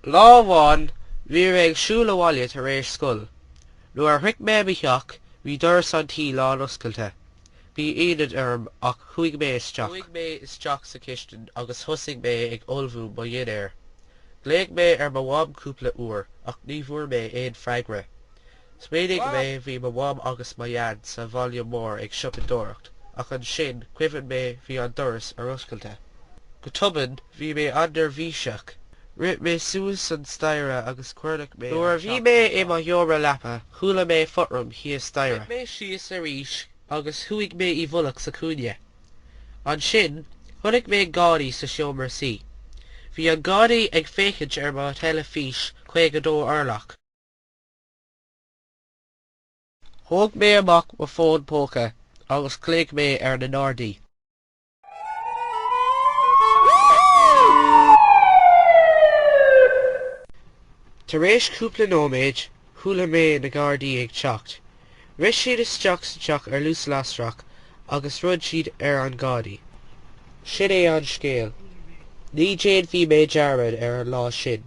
Lá amháin bhí mé ag siúl abhaile tar éis scoil. Nuair a shroich mé mo theach bhí doras an tí lán oscailte. Bhí ionadh orm ach chuaigh mé isteach. Chuaigh mé isteach sa chistin agus thosaigh mé ag ullmhú mo dhinnéir. Ghlaoigh mé ar mo mham cúpla uair ach ní bhfuair mé aon freagra. Smaoinigh mé, bhí mo mham agus mo dhaid sa bhaile mór ag siopadóireacht, ach ansin, cuimhin mé, bhí an doras ar oscailte. Go tobann, bhí mé an-neirbhíseach. Rith mé suas an staighre agus cuardaigh mé an teach ar fad. Nuair a bhí mé i mo sheomra leapa, chuala mé fothram thíos staighre. Rith mé síos arís agus chuaigh mé i bhfolach sa chúinne. Ansin, chonaic mé gadaí sa seomra suí. Bhí an gadaí ag féachaint ar mo theilifís 52 orlach. Thóg mé amach mo fhón póca agus ghlaoigh mé ar na nGardaí. Tar éis cúpla nóiméid, chuala mé na Gardaí ag teacht. Rith siad isteach sa teach ar luas lasrach agus throid siad ar an gadaí. Sin é an scéal. Ní dhéanfaidh mé dearmad ar an lá sin.